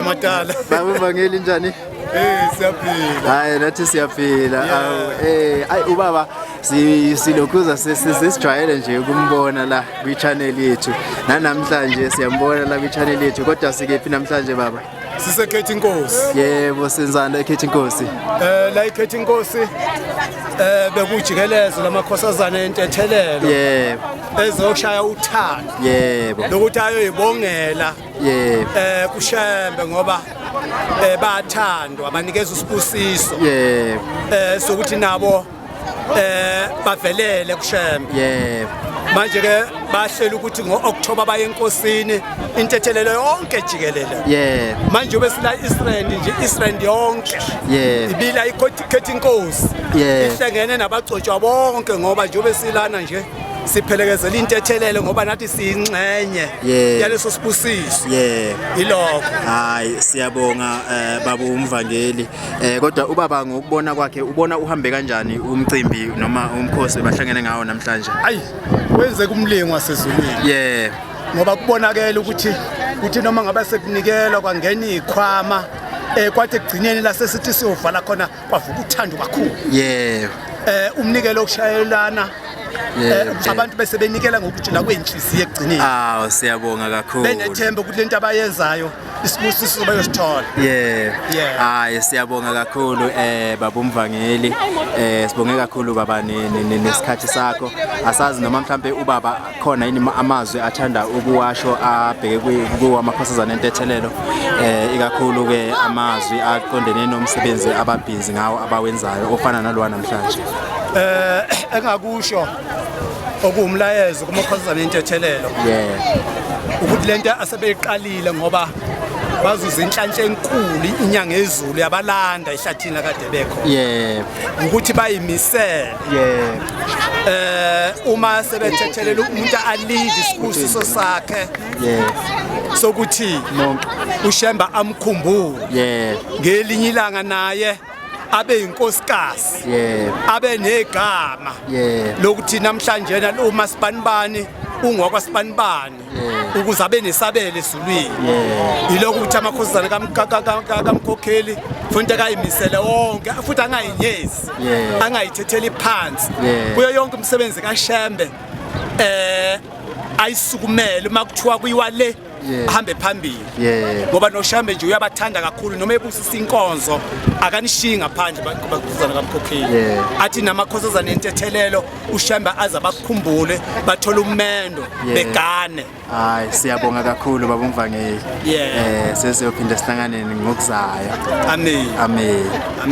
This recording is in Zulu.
Matala. Baba Vangeli njani? Eh siyaphila. Hayi nathi siyaphila. Awu eh ayi ubaba silokhuza sesijwayele nje ukumbona la kwi channel yethu. Nanamhlanje siyambona la kwi channel yethu kodwa sikephi namhlanje baba? sisekhetha inkosi yebo senzani la ekhetha inkosi eh la ikhetha inkosi eh bekujikelezo lamakhosazana entethelelo yebo ezokushaya uthando yebo lokuthi ayoyibongela yebo eh kushembe ngoba eh bathandwa banikeza usibusiso yebo eh sokuthi nabo eh bavelele kushembe yebo manje ke bahlela ukuthi ngo-october baye enkosini intethelelo yonke jikelele yebo manje ube sila israel nje israel yonke yebo ibila ikhetha inkosi ihlengene nabagcotshwa bonke ngoba nje ube silana nje siphelekezela intethelelo ngoba nathi siyinxenye Yeah. yaleso sibusiso yeah yilokho hayi siyabonga eh, baba umvangeli eh, kodwa ubaba ngokubona kwakhe ubona uhambe kanjani umcimbi noma umkhosi bahlangene ngawo namhlanje ayi wenze kumlingo wasezulwini yeah ngoba kubonakele ukuthi ukuthi noma ngabe sekunikelwa kwangena ikhwama eh kwathi ekugcineni lasesithi siyovala khona kwavuka uthando kakhulu yebo eh umnikelo okushayelana eh, ukuthi abantu bese benikela ngokujula kwenhliziyo ekugcineni aw siyabonga kakhulu benethemba ukuthi lento abayenzayo isibusiso bayosithola yeah hayi siyabonga kakhulu eh baba umvangeli eh sibonge kakhulu baba nesikhathi sakho asazi noma mhlambe ubaba khona yini amazwi athanda ukuwasho abheke kuwamakhosazana entethelelo eh ikakhulu ke amazwi aqondene nomsebenzi ababhizi ngawo abawenzayo ofana nalowa namhlanje eh engakusho okuwumlayezo kumakhosazana entethelelo yeah ukuthi lento asebeyiqalile ngoba bazuza inhlanhla enkulu inyanga ezulu yabalanda ehlathini akade bekho yebo ukuthi bayimisele yeah eh uma sebethethelela umuntu alinde isibusiso sakhe yeah sokuthi ushemba amkhumbule yeah ngelinye ilanga naye abe inkosikazi yeah abe negama yeah lokuthi namhlanje na uma sibanibani ungwakwa sibanibani ukuze abe nesabelo ezulwini yilokho ukuthi amakhosazana kamkhokheli futhi akayimisele wonke futhi angayinyezi angayithetheli phansi kuyo yonke umsebenzi kashembe eh ayisukumele uma kuthiwa kuyiwa le ahambe phambili ngoba noshambe nje uyabathanda kakhulu noma ebusisa inkonzo akanishiyi ngaphandle bakhuzana kamkhokheli athi namakhosazana entethelelo ushembe aze bakukhumbule bathole umendo begane hayi siyabonga kakhulu baba umvangeli eh sesiyophinde sihlanganeni ngokuzayo amen amen